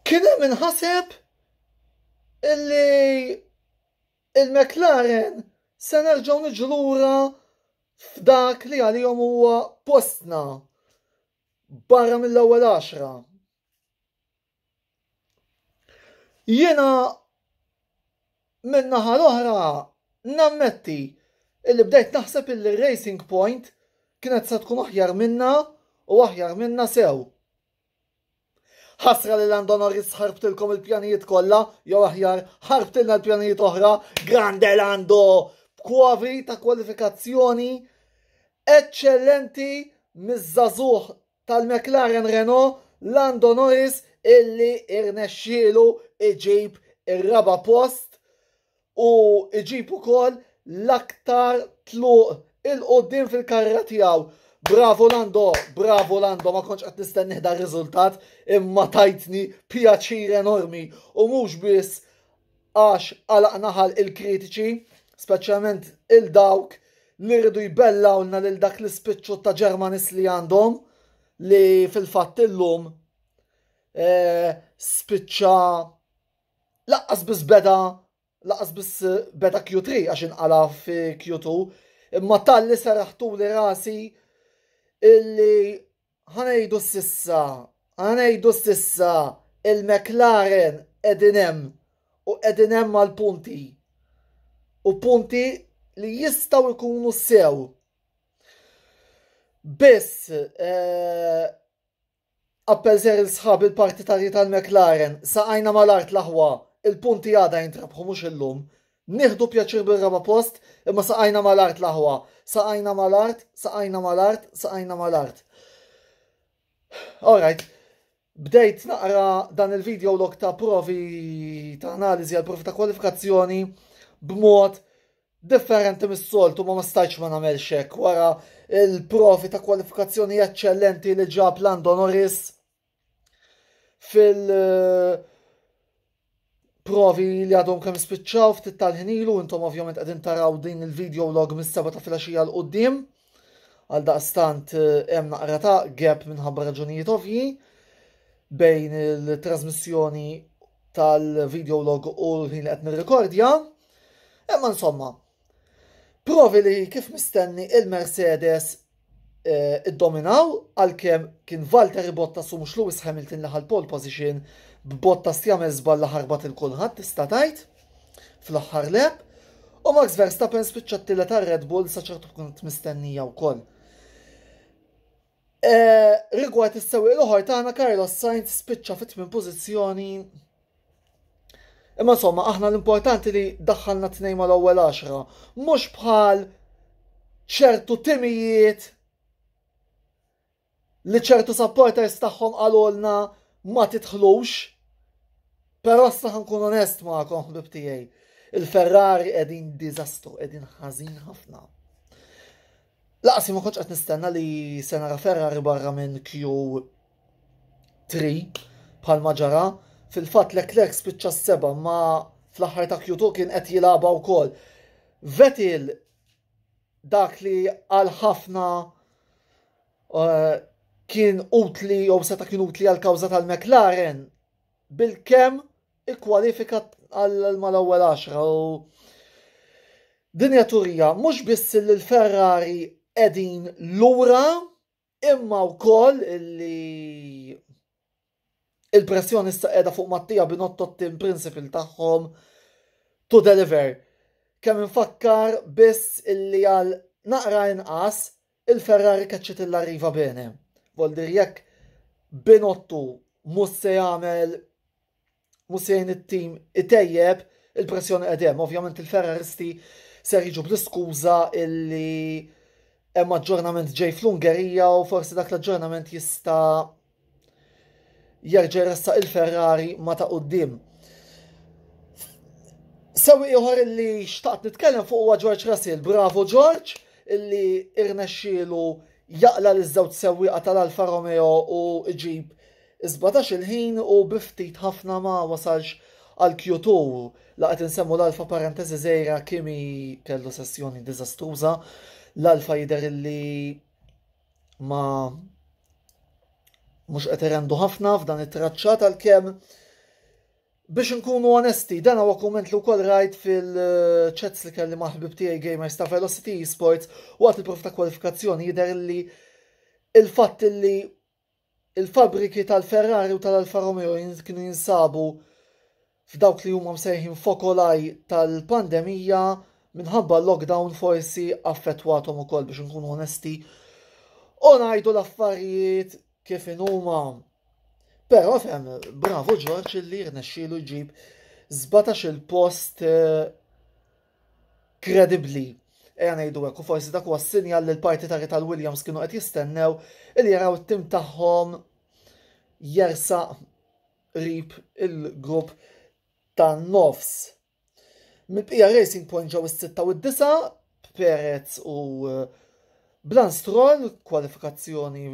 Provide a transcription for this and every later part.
Kien hemm min ħaseb illi il-McLaren se nerġgħu niġu lura f'dak li għalihom huwa postna barra mill-ewwel għaxra. Jiena Min-naħa l-oħra, nammetti illi bdejt naħseb illi r-Racing Point kienet se tkun aħjar minnha u aħjar minnha sew. Ħasra li Lando Norris ħarbtilkom il-pjanijiet kollha, jew aħjar ħarbtilna l-pjanijiet oħra, grande Lando, b'kwavi ta' kwalifikazzjoni eċċellenti miż-żagħżugħ tal-McLaren Renault Lando Norris illi irnexxielu iġib ir-raba' post u iġib ukoll l-aktar tluq il-quddiem fil-karriera tiegħu. Bravo Lando, bravo Lando, ma kontx qed nistennih dar riżultat imma tajtni pjaċir enormi u mhux biss Għax għalaqna ħalq il-kritiċi, speċjalment il dawk li rridu jbellgħulna lil dak l-ispiċċu ta' Ġermanis li għandhom li fil-fatt illum eh, spiċċa laqqas biss beda laqas biss eh, beda Q3 għax inqala fi Q2 imma tal-li saraħtu li rasi illi Ħanejdu s'issa, ħanejdu s'issa il-McLaren qegħdin hemm u qegħdin hemm għal punti. U punti li jistgħu jkunu sew. Biss eh, appell ser il-sħab il-partitarji tal-McLaren, saqajna mal-art l-aħwa, il-punti għada jintrabħu mhux illum, Nieħdu pjaċir bir-raba' post, imma saqajna mal-art l-aħwa. Saqajna mal-art, saqajna mal-art, saqajna mal-art. Alright, bdejt naqra dan il-video log ta' provi ta' analiżi għal provi ta' kwalifikazzjoni b'mod differenti mis-soltu ma ma stajċ ma nagħmel xek wara il-provi ta' kwalifikazzjoni eċċellenti li ġab l-Andonoris. fil- eh, provi li għadhom kemm spiċċaw ftit tal-ħnilu, intom ovvjament qegħdin taraw din il-video log mis-seba ta' filgħaxija l qudiem għal daqstant eh, hemm naqra ta' gap minħabba raġunijiet ovji bejn il-trasmissjoni tal-video log u l-ħin li qed nirrekordja. Imma insomma, provi li kif mistenni il-Mercedes eh, iddominaw għalkemm kien Valtteri Bottas u mhux Lewis Hamilton li ħal pole position b'Bottas li għamel żball li ħarbat il kulħadd tista' tgħid fl-aħħar lep. U Max Verstappen spiċċa t-tilla ta' Red Bull sa ċertu punt mistennija wkoll. Eh, rigward is-sewwieq l-oħor tagħna Carlos Sainz spiċċa fit-tmien pożizzjoni Imma insomma, aħna l-importanti li daħħalna tnejn mal-ewwel għaxra, mhux bħal ċertu timijiet li ċertu supporters tagħhom qalulna ma titħlux. Però issa ħankun onest magħkom ħbib tiegħi. Il-Ferrari qegħdin diżastru, qegħdin ħażin ħafna. Laqsi ma kontx qed nistenna li se nara Ferrari barra minn Q 3 bħalma ġara fil-fatt Leclerc spiċċa s-seba ma fl-aħħar ta' Q2 kien qed jilagħba wkoll. Vettel dak li għal ħafna uh, kien utli jew seta' kien utli għal kawża tal-McLaren bil-kem ikkwalifika għal mal-ewwel 10 u dinja turija mhux biss li l-Ferrari qegħdin lura Imma wkoll li il-pressjoni issa qiegħda fuq Mattia Binotto t-tim principal tagħhom to deliver. Kemm infakkar biss illi għal naqra inqas il-Ferrari keċċet il-arriva bene. Voldir jekk Binotto mhux se jagħmel Mhux se jgħin it-tim itejjeb il-pressjoni qed hemm. Ovvjament il-Ferraristi ser jiġu bl-iskuża illi hemm aġġornament ġej fl-Ungerija u forsi dak l-aġġornament jista' jerġa' jressaq il-Ferrari ma ta' qudiem. Sewi ieħor li xtaqt nitkellem fuq huwa George Russell. Bravo George illi irnexxielu jaqla l żewġ sewwieqa tal-Alfa Romeo u ġib Is-sbatax il-ħin u bi ftit ħafna ma wasalx għal Q2. La qed insemmu l-Alfa parenteżi żgħira Kimi kellu sessjoni diżastruża. L-Alfa jidher illi ma mhux qed irendu ħafna f'dan it-traċċa tal-kemm Biex nkunu onesti, dan huwa kumment li wkoll rajt fil-chats li kelli maħbib tiegħi gamers ta' Velocity Esports waqt il-prof ta' kwalifikazzjoni jidher li il-fatt li Il-fabbriki tal-Ferrari u tal-Alfa Romeo kienu jinsabu f'dawk li huma msejħin fokolai tal-pandemija minħabba l-lockdown forsi affettwathom ukoll biex nkunu onesti u ngħidu l-affarijiet kif inhuma. Però fem, bravo Ġorġ li rnexxielu jġib 17 il-post eh, kredibbli ejja ngħidu hekk u forsi dak huwa s-sinjal li l-partitari tal-Williams kienu qed jistennew li jaraw it-tim tagħhom jersaq rib il-grupp tan-nofs. Mill-bqija Racing Point ġew is-sitta u d-disa, Perez u eh, Blan Stroll, kwalifikazzjoni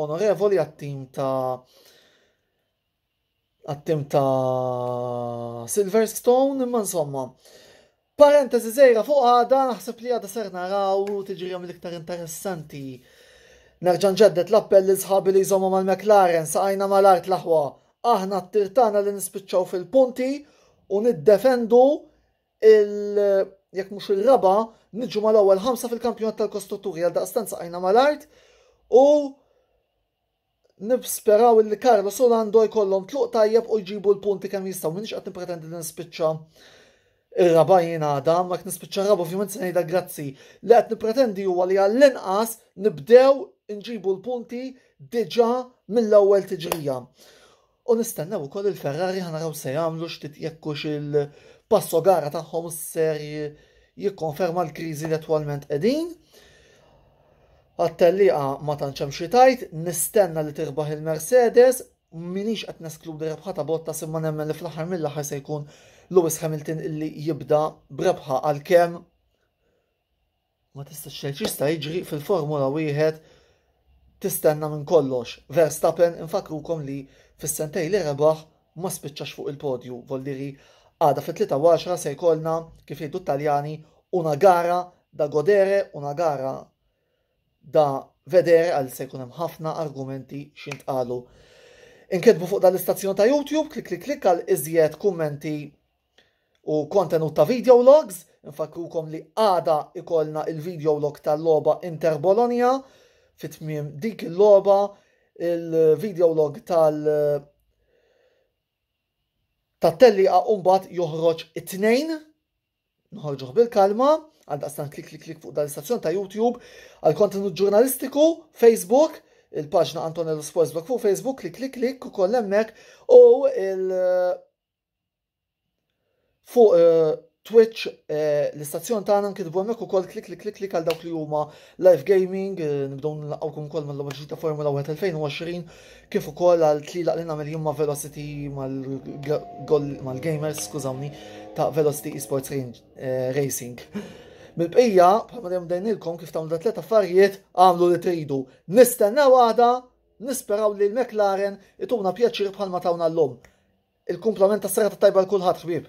onorevoli għat-tim ta' għat-tim ta' Silverstone, imma insomma. Parentesi zejra fuq għada, naħseb li għada ser naraw tiġrija mill-iktar interessanti. Nerġan ġeddet l-appell li sħabi li jżomma mal-McLaren saqajna mal-art l-aħwa. Aħna t-tirtana li nispiċċaw fil-punti u niddefendu il jekk mhux ir-raba, niġu mal-ewwel ħamsa fil-kampjonat tal-kostrutturi għal daqstanza għajna mal-art u nibsperaw li Carlos u Lando jkollhom tluq tajjeb u jġibu l-punti kemm jistgħu minix qed nippretendi li nispiċċa ir-raba jien għada, ma qed nispiċċa r-raba ovvjament se ngħidha grazzi. Li qed nippretendi huwa li għall-inqas nibdew nġibu l-punti diġà mill-ewwel tiġrija. U nistennew ukoll il-Ferrari ħa naraw se jagħmlu x'tit jekkux il-passo gara tagħhom ser jikkonferma l-kriżi li attwalment qegħdin. Għat-telliqa ma tantx hemm xi tajt, nistenna li tirbaħ il-Mercedes, minix qed neskludi rebħa ta' botta simma nemmen li fl-aħħar mill-aħħar se jkun Lewis Hamilton illi jibda brebħa għal kem Ma tistax tgħid x'jista' jiġri fil-Formula Wieħed tistenna minn kollox. Verstappen infakkrukom li fis-sentej li rebaħ ma spiċċax fuq il-podju, volliri għada fit-3 se jkollna kif jgħidu t-Taljani una gara da godere, una gara da vedere għal se jkun hemm ħafna argumenti x'intqalu. Inketbu fuq dal-istazzjon ta' YouTube, klik klik klik għal iżjed kummenti u kontenut ta' video logs, infakkrukom li għada ikollna il-video log tal-logħba Inter Bologna fit tmiem dik il-logħba il-video log tal tat-telliqa mbagħad joħroġ it-tnejn nħorġuh bil-kalma għal daqstan klik klik klik fuq dal-istazzjon ta' YouTube għal kontenut ġurnalistiku Facebook il-paġna Antonello Sports Blog fuq Facebook klik klik klik ukoll hemmhekk u il- Fuq eh, Twitch eh, l-istazzjon tagħna nkitbu hemmhekk ukoll klik klik klik klik għal dawk li huma live gaming, eh, nibdew nilqgħukom ukoll mal-logħba ġdida Formula 1 2020 kif ukoll għal tlilaq li nagħmel jien ma' Velocity mal-gamers, skużawni, ta' Velocity Esports Racing. Mill-bqija, bħalma dejjem dejnilkom kif tagħmlu dat tliet affarijiet, għamlu li tridu. Nistennew għada Nisperaw li l-McLaren ituna pjaċir bħalma tawna llum. Il-kumplament tas-serata t-tajba l-kulħadd ħbieb.